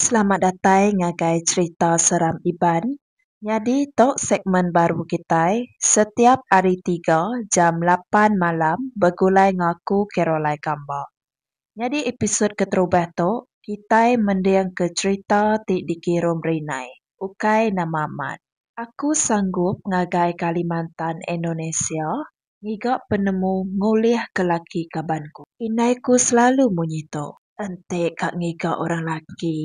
Selamat datai ngagai cerita seram Iban. Nyadi to segmen baru kitai, setiap ari tiga jam lapan malam begulai ngaku Caroline Kamba. Nyadi episod keterubah to kitai mending ke cerita ti dikirum Rinai, ukai nama mat. Aku sanggup ngagai Kalimantan Indonesia. Ngiga penemu ngulih ke laki kaban ku. Indai ku selalu munyi tu. Enti ka ngiga orang laki.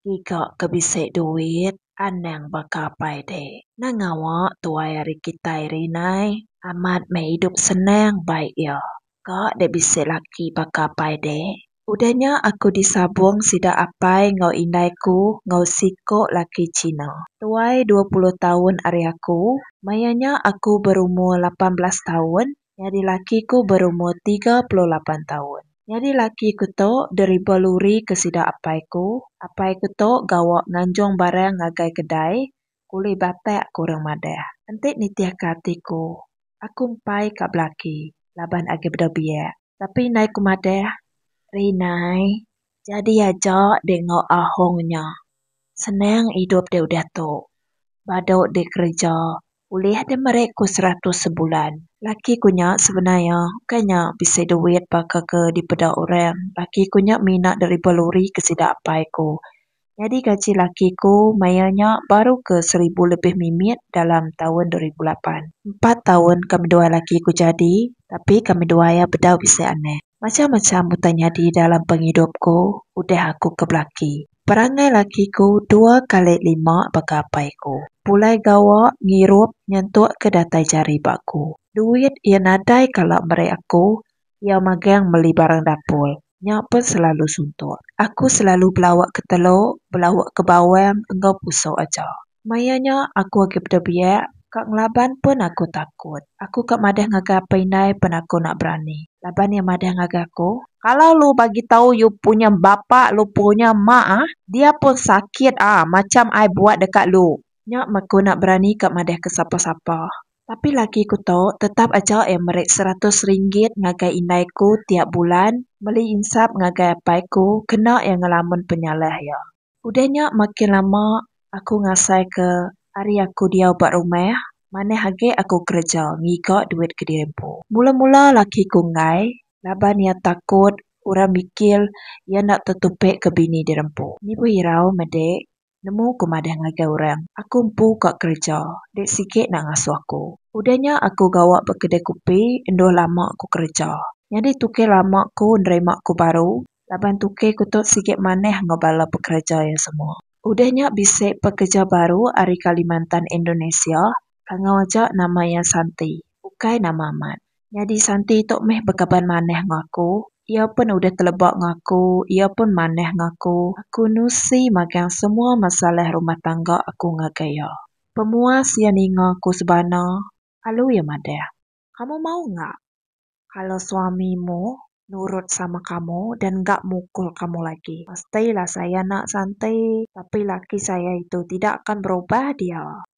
Ngiga ke bisi duit. Anang baka apai dek. Nang ngawa tuai ari kitai ri nai. Amat meh idup senang baik iya. Ka dek bisi laki baka apai dek. Udah nya aku disabung sida apai enggau indai ku enggau siko laki Cina. Tuai dua puluh taun ari aku. Maya nya aku berumur lapan belas taun, nyadi laki ku berumur tiga puluh lapan taun. Nyadi laki ku tu deriba luri ke sida apai ku. Apai ku tu gawa nganjung barang ngagai kedai, Kulih batak ku orang madah. Enti nitihka ati ku, aku empai ka belaki laban agi bedau biak. Tapi indai ku madah, Ri nai, jadi aja dek enggau ahong nya. Senang idup dek udah tu. Badu dek kereja ulih dek meri ku seratus sebulan. Laki ku nya sebenar iya ukai nya bisi duit baka ke dipeda orang. Laki ku nya mina deriba luri ke sida apai ku. Nyadi gaji laki aku maya nya baru ke seribu lebih mimit dalam taun dua ribu lapan. Empat taun kami duai laki aku jadi tapi kami duai iya bedau bisi anak. Macham-macham utai nyadi dalam pengidup aku udah aku ke belaki. Perangai laki aku dua kali lima baka apai aku. Pulai gawa, ngirup, nyentuk ke datai jari ba aku. Duit iya nadai kala meri aku Iya magang meli barang dapur. Nya pun selalu suntuk. Aku selalu belauk ke telok, belauk ke bawang enggau pusok aja. Maya nya aku agi peda biak, ka ngelaban pun aku takut. Aku ka madah ngagai apai indai pen aku enda berani. Laban iya madah ngagai aku. Kala lu bagi tau yu punya bapa lu punya mak ah, dia pun sakit ah macham ai buat deka lu. Nya mak aku enda berani ka madah ke sapa-sapa. Tapi laki ku tu tetap aja eh meri seratus ringgit ngagai indai ku tiap bulan meli insap ngagai apai ku kena eh ngelamun penyalah iya. Udah nya makin lama aku ngasai ke ari aku diau ba rumah manah agi aku kereja ngiga duit kediri empu. Mula-mula laki ku enggai laban iya takut orang mikir iya enda tetupi ke bini diri empu. Ni pun hirau meda Nemu ku madah ngagai orang, aku empu ka kereja, dek sigi enda ngasuh aku. Udah nya aku gawa ba kedai kupi endur lama ku kereja. Nyadi tuke lama ku nerima ku baru laban tuke ku tu sigi manah enggau bala pekereja iya semua. Udah nya bisi pekeja baru ari Kalimantan Indonesia, kangau aja nama iya Santi, ukai nama amat. Nyadi Santi tu meh bekaban manah ngan aku. Iya pun udah teleba ngan aku, iya pun manah ngan aku. Aku nusi magang semua masalah rumah tangga aku ngagai iya. Pemuas iya ninga aku sebana lalu iya madah. Kamu mau nya kalau suami mu nurut sama kamu dan enda mukul kamu lagi. Mesti lah saya nak Santi. Tapi laki saya itu tidak akan berubah dia.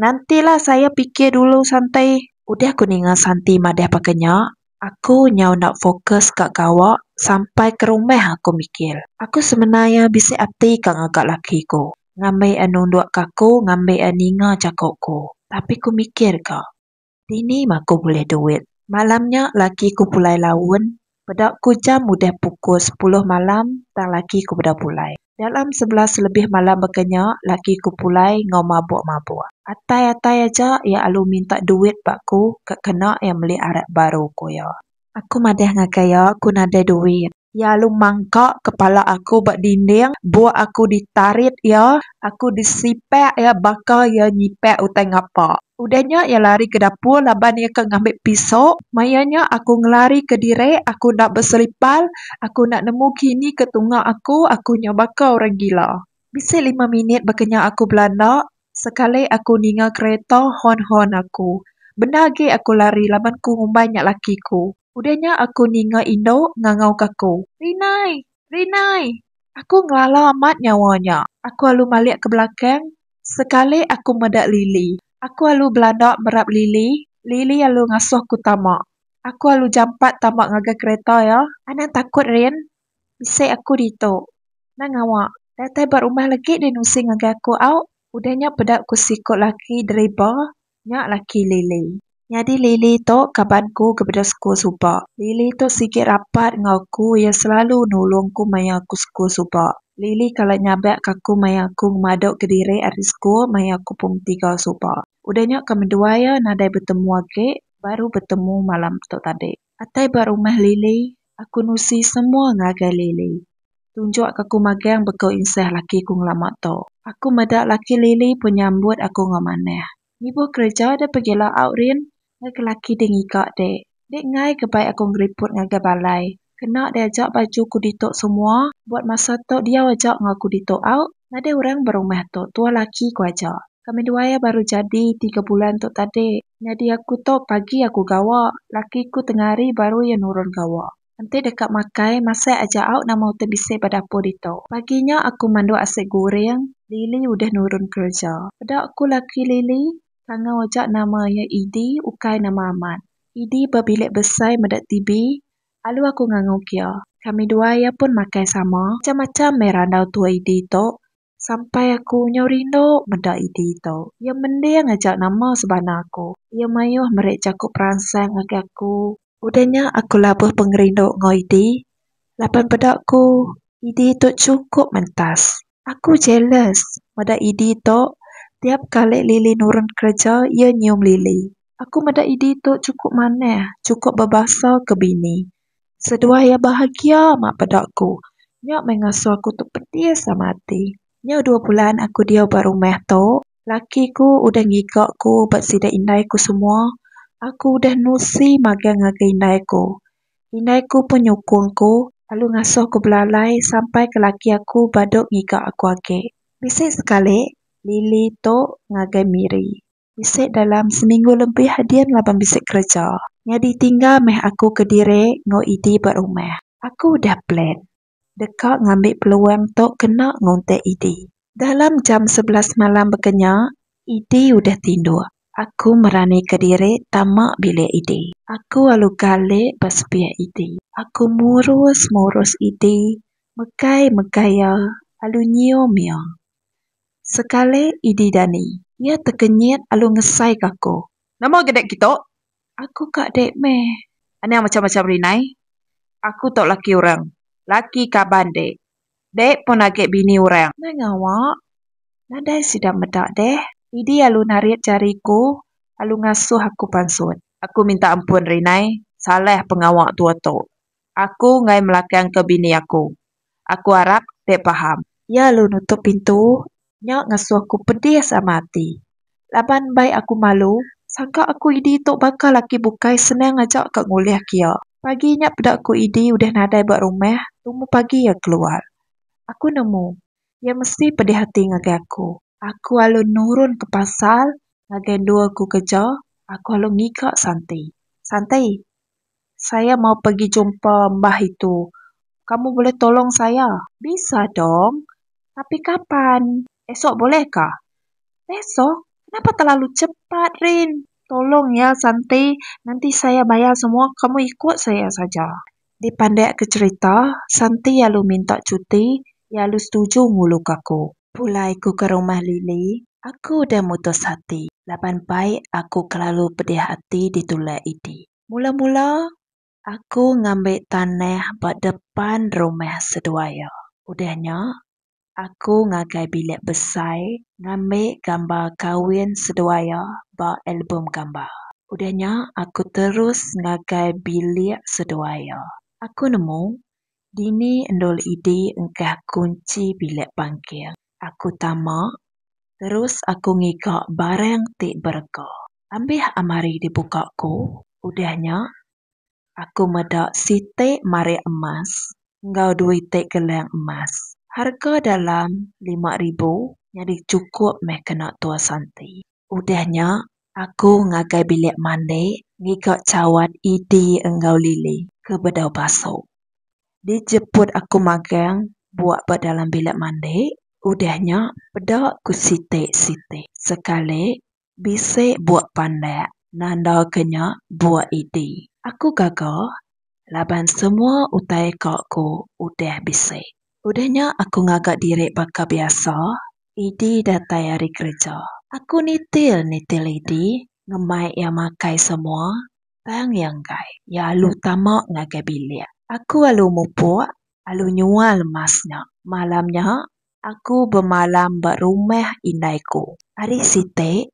Nantilah saya pikir dulu santai. Udah ku ninga Santi madah baka nya, aku nyau enda fokus ka gawa sampai ke rumah aku mikir. Aku semina iya bisi ati ka ngaga laki ku, ngambi iya nundukka aku ngambi iya ninga jaku ku. Tapi ku mikir ka. Dini mah aku bulih duit. Malam nya laki ku pulai laun, peda ku jam udah pukul sepuluh malam tang laki ku peda pulai. Dalam sebelas lebih malam baka nya laki ku pulai enggau mabuk-mabuk. Atai-atai aja iya alu minta duit ba aku ka kena iya meli arak baru, ku iya. Aku madah ngagai iya aku nadai duit. Iya lalu mangka kepala aku ba dinding buk aku ditarit iya, aku disipak iya baka iya nyipak utai ngapa. Udah nya iya lari ke dapur laban iya ke ngambi pisau. Maya nya aku ngelari ke diri, aku enda beselipar, aku enda nemu kini ke tunga aku, aku nya baka orang gila. Bisi lima minit baka nya aku belanda, sekali aku ninga kereta hon-hon aku. Bendar agi aku lari laban ku ngumbai nya laki ku. Udah nya aku ninga indu ngangau ke aku. Rinai! Rinai! Aku ngelala amat nyawa nya. Aku alu malik ke belakang. Sekali aku meda Lily. Aku alu belanda merap Lily. Lily alu ngasuh ku tama. Aku alu jampat tama ngagai kereta iya. Anang takut Rin. Bisi aku ditu. Nang ngawa. Datai ba rumah lagi deh nusi ngagai aku au. Udah nya peda ku siku laki deriba Nya laki Lily. Nyadi Lily tu kaban ku kebeda sekul suba. Lily tu sigi rapat enggau aku iya selalu nulung aku maya aku sekul suba. Lily kala nyabak ke aku maya aku ngemadu kediri ari sekul maya aku pom tiga suba. Udah nya ke menduai iya nadai betemu agi baru betemu malam tu tadi. Atai ba rumah Lily, aku nusi semua ngagai Lily. Tunjuk ke aku magang beko insah laki aku ngelama tu. Aku meda laki Lily pun nyambut aku enggau manah. Nibuh kereja deh pegi laau Rin, ngagai laki deh ngiga dek. Dek enggai ke bai aku ngeriput ngagai balai. Kena deh aja baju aku ditu semua, buat masa tu diau aja enggau aku ditu au. Nadai orang ba rumah tu, tuah laki aku aja. Kami duai baru jadi tiga bulan tu tadi. Nyadi aku tu pagi aku gawa, laki aku tengah hari baru iya nurun gawa. Enti deka makai, masih aja au nama utai bisi ba dapur ditu. Pagi nya aku manduk asi guring, Lily udah nurun kereja. Peda ku laki Lily, Kangau aja nama iya Idi, ukai nama amat. Idi ba bilik besai meda TV, alu aku nganguk iya. Kami dua iya pun makai sama. Macam-macam meh randau tua Idi tu. Sampai aku nyau rindu meda idi tu. Iya mending aja nama sebana aku. Iya mayuh meri jaku peransang ngagai aku. Udah nya aku labuh pengerindu enggau idi laban peda ku idi tu chukup mentas. Aku jealous meda idi tu tiap kali Lily nurun kereja iya nyium Lily. Aku meda idi tu chukup manah, chukup bebasa ke bini. Seduai iya bahagia amat beda aku. Nya meh ngasuh aku tu pedis amat ati. Nya dua bulan aku diau ba rumah tu, laki ku udah ngiga ku ba sida indai ku semua. Aku udah nusi magang ngaga indai ku. Indai ku pun nyukung ku lalu ngasuh ku belalai sampai ke laki aku ba dog ngiga aku agi. Bisi sekali, Lily tu ngagai Miri. Bisi dalam seminggu lebih adin laban bisi kereja. Nyadi tinggal meh aku kediri enggau Edie ba rumah. Aku udah plan deka ngambi peluang tu kena ngunting Edie. Dalam jam sebelas malam baka nya, Edie udah tinduk. Aku meranika diri tama bilik Edie. Aku alu galik ba sepia Edie. Aku murus-murus Edie, megai-megai iya, alu nyium iya. Sekali idi dani. Iya tekenyit alu ngesai ka aku. Nama ga dek kitu? Aku ka dek meh. Anang macam macam ri nai. Aku tu laki urang. Laki kaban dek. Dek pun age bini urang. Nai ngawa. Nadai sida meda deh. Idi alu narit jari ku alu ngasuh aku pansut. Aku minta ampun ri nai. Salah pengawa tua tu. Aku ngai melakangka bini aku. Aku arap dek paham. Iya lalu nutup pintu. Nya ngesuh ku pedis amat ati. Laban mbai aku malu, sangka aku Idi tu baka laki bukai senang aja ka ngulih ke iya. Pagi nya peda ku Idi udah nadai ba rumah, tumu pagi iya keluar. Aku nemu, iya mesti pedih ati ngagai aku. Aku alu nurun ke pasar ngagai endur aku kerja, aku alu ngiga Santi. Santi. Saya mau pegi jumpa mbah itu. Kamu boleh tolong saya? Bisa dong. Tapi kapan? Esok bolehkah? Esok? Kenapa terlalu cepat, Rin? Tolong ya, Santi. Nanti saya bayar semua, kamu ikut saya saja. Dipandiaka cherita, Santi lalu minta cuti. Iya lalu setuju nguluka aku. Pulai aku ke rumah Lily, aku udah mutus ati. Laban bai aku kelalu pedih ati ditulak Edie. Mula-mula, aku ngambi tanah ba depan rumah seduai iya. Udah nya, aku ngagai bilik besai ngambi gambar kawin seduai iya ba album gambar. Udah nya, aku terus ngagai bilik seduai iya. Aku nemu, dini endur idi engkah kunchi bilik pangking. Aku tama, terus aku ngiga barang ti berega. Ambih amari dibuka ku, udah nya, aku meda siti marik emas enggau duiti gelang emas, harga dalam lima ribu nyadi chukup meh kena tua santi. Udah nya, Aku ngagai bilik mandi ngiga cawan Edy enggau Lily ke bedau pasu. Dijeput aku magang buak ba dalam bilik mandi, udah nya peda ku siti siti sekali bisi buak pandak nanda ke nya buak Edy. Aku gaga laban semua utai ka aku udah bisi. Udah nya aku ngaga diri baka biasa, Idi datai ari kereja. Aku nitil nitil Idi ngemai iya makai semua, tang iya enggai. Iya alu tama ngagai bilik. Aku alu mupuk, alu nyual emas nya. Malam nya aku bemalam ba rumah indai ku. Ari siti,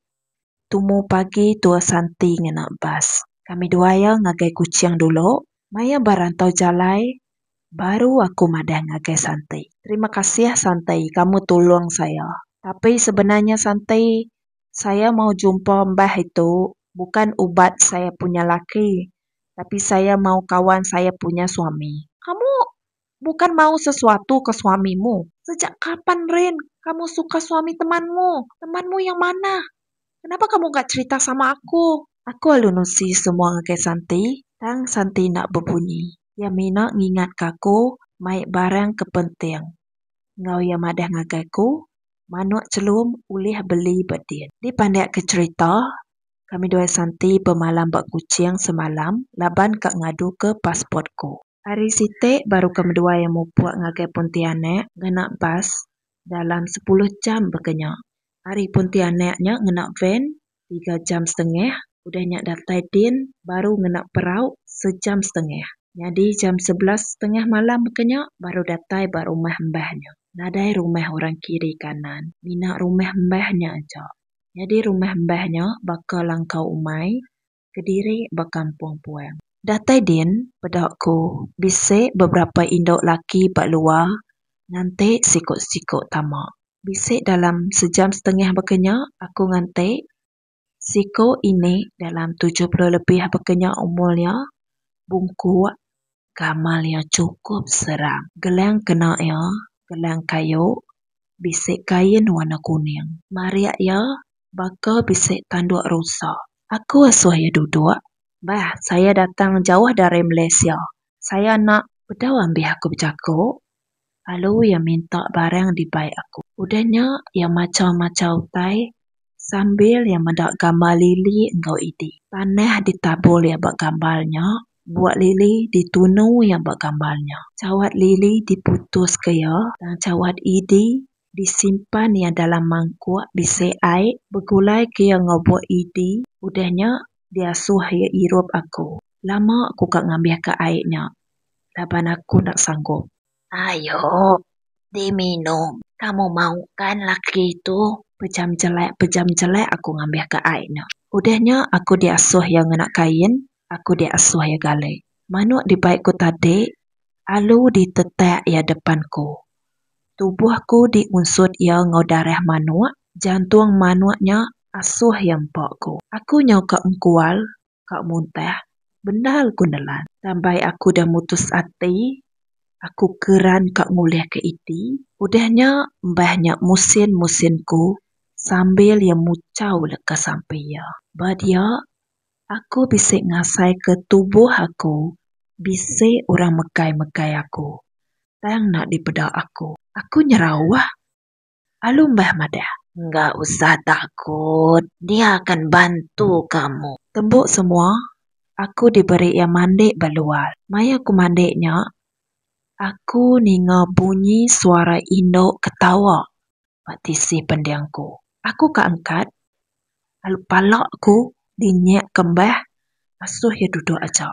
Tumu pagi tua Santi ngena bas. Kami dua iya ngagai Kuching dulu. Maya ba rantau jalai baru aku madah ngagai Santi. Terima kasih Santi kamu tulung saya. Tapi sebenarnya Santi saya mau jumpa mbah itu bukan ubat saya punya laki tapi saya mau kawan saya punya suami. Kamu bukan mau sesuatu ke suami mu. Sejak kapan Rin kamu suka suami teman mu? Teman mu yang manah? Kenapa kamu ga cerita sama aku? Aku alu nusi semua ngagai Santi, tang Santi enda bebunyi. Iya mina ngingat ka aku mai barang ke penting. Enggau iya madah ngagai aku, manuk celum ulih beli ba din. Dipandik ke cerita, kami dua Santi bemalam ba Kuching semalam laban ka ngadu ke passport ku. Ari siti baru ke medua iya mupuk ngagai Pontianak ngena bas dalam sepuluh jam baka nya. Ari Pontianak nya ngena van tiga jam setengah udah nya datai din baru ngena perau sejam setengah. Nyadi jam sebelas setengah malam baka nya baru datai ba rumah embah nya. Nadai rumah orang kiri kanan, mina rumah embah nya aja. Nyadi rumah embah nya baka langkau umai kediri ba kampung Puang. Datai din peda ku bisi beberapa indu laki ba luar nganti siku-siku tama. Bisi dalam sejam setengah baka nya aku nganti siku ini dalam tujuh puluh lebih baka nya umur iya bungkuk Gamal iya chukup serang. Gelang kena iya gelang kayu bisi kain warna kuning. Marik iya baka bisi tanduk rusa. Aku asuh iya duduk. Bah, saya datang jauh dari Malaysia. Saya enda bedau ambih aku bejaku. lalu iya minta barang dibai aku. Udah nya iya machau-machau utai sambil iya meda gambar lili enggau idi. Tanah ditabur iya ba gambar nya, buak lili ditunu iya ba gambar nya. Chawat lili diputuska iya tang chawat idi disimpan iya dalam mangkuk bisi ai begulaika iya enggau buak idi udah nya diasuh iya irup aku. Lama aku ka ngambika ai nya. laban aku enda sanggup. Ayo diminum kamu mau kan laki tu. Pejam jelek pejam jelek aku ngambih ka ai nya. Udah nya aku diasuh iya ngena kain aku diasuh iya gali. Manuk dibai ku tadi alu ditetak iya depan ku. Tubuh ku diunsut iya enggau darah manuk jantung manuk nya asuh iya empa ku. Aku nyau ka engkual ka muntah bendar ku nelan. Tambai aku udah mutus ati, aku keran ka ngulihka iti. Udah nya mbah nya musin musin ku sambil iya muchau leka sampi iya. Ba dia, aku bisi ngasaika tubuh aku bisi orang megai megai aku tang enda dipeda aku. Aku nyerauh. Alu meh madah. Engga usah takut, dia akan bantu kamu. Tembu semua, aku diberi iya mandi ba luar. Maya aku mandi nya, aku ninga bunyi suara indu ketawa ba tisi pending aku. Aku ka angkat, lalu pala aku dinyek kembah asuh iya duduk aja.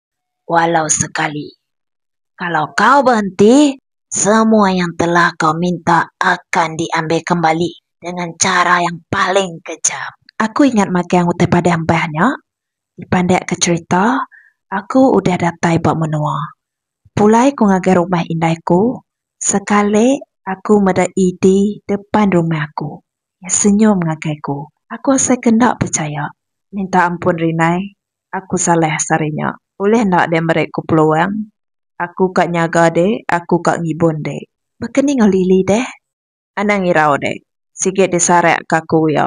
walau sekali. Kalau kau berhenti, semua yang telah kau minta akan diambil kembali dengan cara yang paling kejam. Aku ingat magang utai padah embah nya. Dipandak ke cherita, aku udah datai ba menua. Pulai ku ngagai rumah indai ku, sekali aku meda ED depan rumah aku. Iya senyum ngagai ku. Aku asai ke enda pechaya. Minta ampun Rinai, Aku salah sehari nya. Ulih enda deh meri ku peluang. Aku ka nyaga deh, aku ka ngibun deh. Baka ni enggau Lily deh. Anang irau deh. Sigi disarak ka aku iya.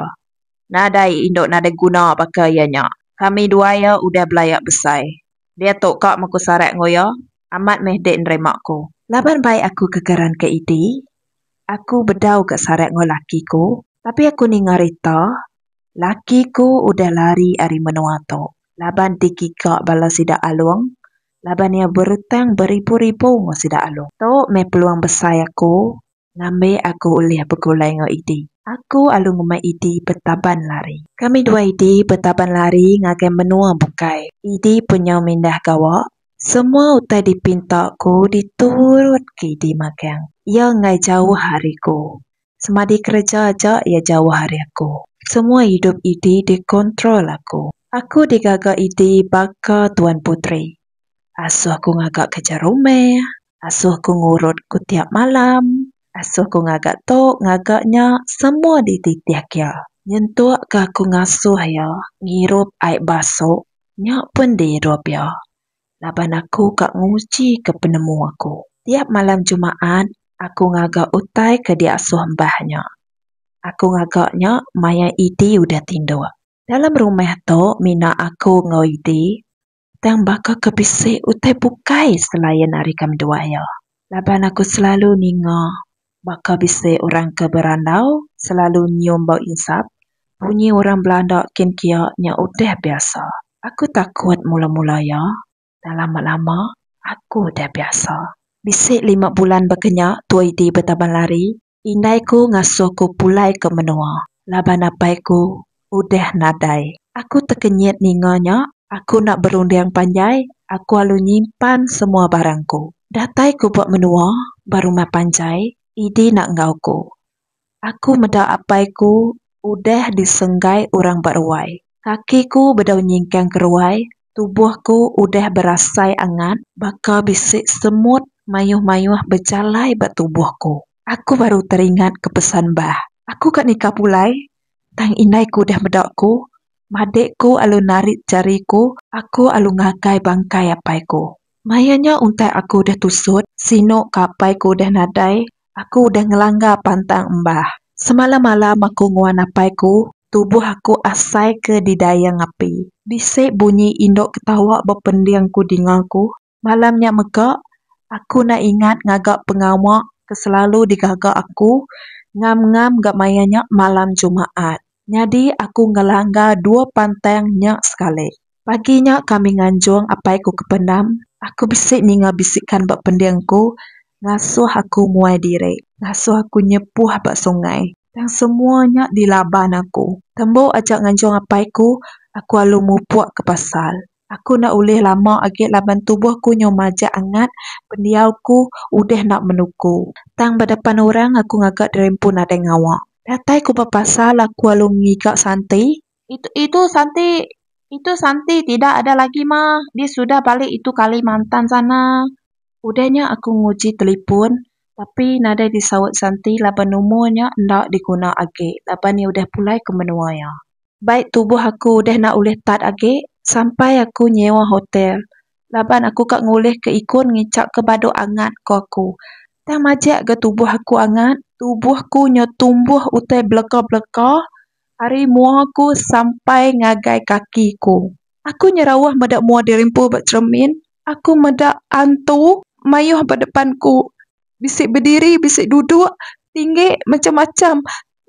Nadai indu nadai guna baka iya nya. Kami dua iya udah belaya besai. Dia tu ka meh ku sarak enggau iya. Amat meh dik nerima ku. Laban bai aku kegeran ke Edie. Aku bedau ga sarak enggau laki ku. Tapi aku ninga rita. Laki ku udah lari ari menua tu laban digiga bala sida Along laban iya berutang beribu-ribu enggau sida Along. Tu meh peluang besai aku ngambi aku ulih begulai enggau Idi. Aku alu ngumbai Idi betaban lari. Kami dua Idi betaban lari ngagai menua bukai. Idi pun nyau mindah gawa. Semua utai dipinta ku diturut ke Idi magang. Iya enggai jauh ari ku. Semadi kereja aja iya jauh ari aku. Semua idup idi dikontrol aku. Aku digaga idi baka tuan puteri. Asuh ku ngaga kereja rumah, asuh ku ngurut ku tiap malam, asuh ku ngaga tu ngaga nya semua dititih iya. Nyentuk ka aku ngasuh iya ngirup ai basu nya pun diirup iya. laban aku ka ngujika penemu aku. Tiap malam Jumaat, aku ngaga utai ke diasuh embah nya. Aku ngaga nya maya Edie udah tinduk. Dalam rumah tu mina aku enggau Edie, tang baka ke bisi utai bukai selain ari ke menua iya. Laban aku selalu ninga Baka bisi orang ke berandau selalu nyium bau insap, bunyi orang belanda kin kia nya udah biasa. Aku takut mula-mula iya, tang lama-lama aku udah biasa. Bisi lima bulan baka nya Tua Idi betaban lari, indai ku ngasuh ku pulai ke menua laban apai ku Udah nadai. Aku tekenyit ninga nya. Aku enda berunding panjai. Aku alu nyimpan semua barang ku. Datai ku ba menua, ba rumah panjai, Idi enda enggau ku. Aku meda apai ku udah disenggai orang ba ruai. Kaki ku bedau nyingkang keruai, tubuh ku udah berasai angat baka bisi semut mayuh-mayuh bejalai ba tubuh ku. Aku baru teringat ke pesan bah. Aku ka nikah pulai, Tang indai ku deh meda ku, madik ku alu narit jari ku, aku alu ngagai bangkai apai ku. Maya nya untai aku deh tusut, sinu ka apai ku deh nadai, aku udah ngelanggar pantang embah. Semalam-malam aku nguan apai ku, tubuh aku asai ke didayang api. Bisi bunyi indu ketawa bepending ku dinga ku. Malam nya mega aku enda ingat ngaga pengawa ke selalu digaga aku ngam-ngam gak maya nya malam jumaat. Nyadi aku ngelanggar dua pantang nya sekali. Pagi nya kami nganjung apai ku ke pendam, aku bisi ninga bisikan ba pending ku ngasuh aku muai diri, ngasuh aku nyepuh ba sungai. Tang semua nya dilaban aku. Tembu aja nganjung apai ku, aku alu mupuk ke pasar. Aku enda ulih lama agi laban tubuh ku nyau majak angat, pendiau ku udah enda menuku. Tang ba depan orang aku ngaga dirimpun nadai ngawa. Datai ku bepasal aku alu ngiga Santi. Itu itu Santi itu Santi tidak ada lagi mah, dia sudah balik itu Kalimantan sana. Udah nya aku nguji telipun tapi nadai disaut Santi laban numor nya enda diguna agi laban iya udah pulai ke menua iya. Bai tubuh aku udah enda ulih tat agi sampai aku nyewa hotel laban aku ka ngulihka ikun ngichapka badu angat, ku aku. Tang majak ga tubuh aku angat. Tubuh aku nyau tumbuh utai beleka-beleka ari mua aku sampai ngagai kaki aku. Aku nyau rauh meda mua diri empu ba cheremin. Aku meda antu mayuh ba depan aku. Bisi bediri, bisi duduk, tinggi, macham-macham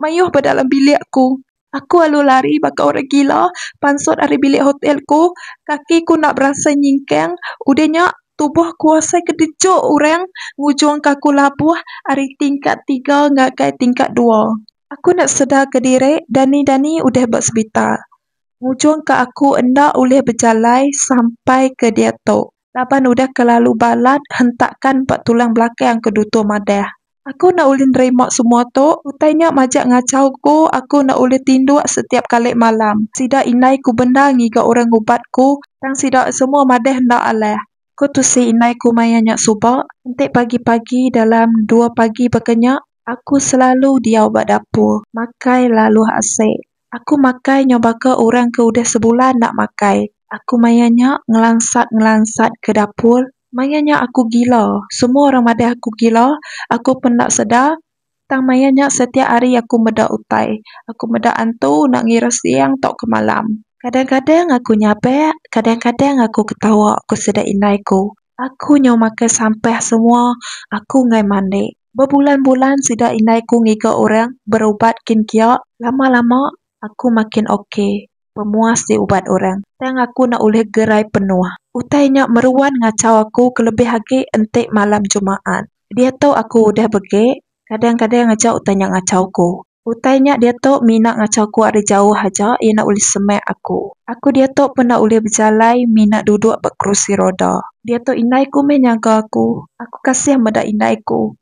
mayuh ba dalam bilik aku. Aku alu lari baka orang gila pansut ari bilik hotel ku. Kaki ku enda berasa nyingkang. Udah nya, tubuh ku asai ke dejok orang ngujungka aku labuh ari tingkat tiga ngagai tingkat dua. Aku enda sedarka diri, dani-dani udah ba sebitar. Ngujungka aku enda ulih bejalai sampai ke diatu. Laban udah kelalu balat, hentakan ba tulang belakang, aku Duto madah. Aku enda ulih nerima semua tu, utai nya majak ngachau ku, aku enda ulih tinduk setiap kali malam. Sida indai ku bendar ngiga orang ngubat ku, tang sida semua madah enda alah. Aku tusi indai ku maya nya suba, enti pagi-pagi dalam dua pagi baka nya, aku selalu diau ba dapur, makai laluh asik. Aku makai nyau baka orang ke udah sebulan enda makai. Aku maya nya ngelansat-ngelansat ke dapur. Maya nya aku gila. Semua orang madah aku gila. Aku pun enda sedar. Tang maya nya setiap hari aku meda utai. Aku meda antu enda ngira siang tauka malam. Kadang-kadang aku nyabak, kadang-kadang aku ketawa, ku sida indai ku. Aku nyau makai sampah semua aku enggai mandi. Bebulan-bulan sida indai ku ngiga orang berubat kin kia, lama-lama aku makin ok, pemuas ti ubat orang. Tang aku enda ulih gerai penuh. Utai nya meruan ngachau aku kelebih agi enti malam Jumaat. Diatu aku udah begek, kadang-kadang aja utai nya ngachau ku. Utai nya diatu mina ngacha aku ari jauh aja iya enda ulih semak aku. Aku diatu pun enda ulih bejalai mina duduk ba kerusi roda. Diatu indai ku meh nyaga aku. Aku kasih meda indai ku.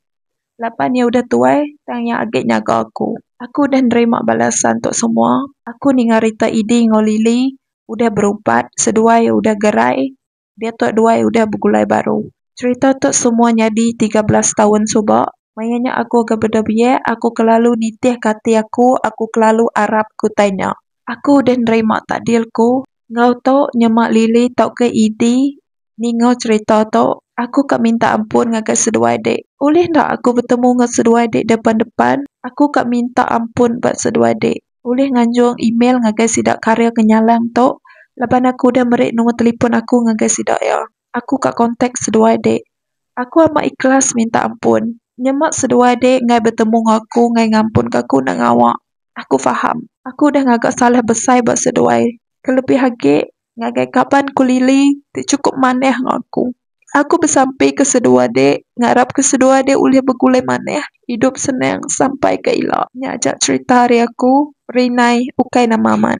Laban iya udah tuai tang iya agi nyaga aku. Aku udah nerima balasan tu semua. Aku ninga rita Idi enggau Lily udah berubat seduai udah gerai. Diatu duai udah begulai baru. Cerita tu semua nyadi tiga belas taun suba. Maya nya aku ga beda biak, aku kelalu nitihka ati aku, aku kelalu arap ke utai nya. Aku udah nerima takdir ku. Enggau tu, nyema Lily tauka Eddy ninga cerita tu, aku ka minta ampun ngagai seduai dik. Ulih enda aku betemu enggau seduai dik depan-depan? Aku ka minta ampun ba seduai dik. ulih nganjung email ngagai sida karya ke nyalang tu laban aku udah meri nombor telefon aku ngagai sida iya. Aku ka kontak seduai dek. Aku amat ikhlas minta ampun. Nyema seduai dek enggai betemu enggau aku enggai ngampunka aku enda ngawa. Aku faham. Aku udah ngaga salah besai ba seduai. Kelebih agi, Ngagai kaban ku Lily ti chukup manah enggau aku. Aku besampi ke seduai ade ngarap ke seduai ade ulih begulai manah idup senang sampai ke ila. Nya aja cherita ari aku Rinai ukai nama amat.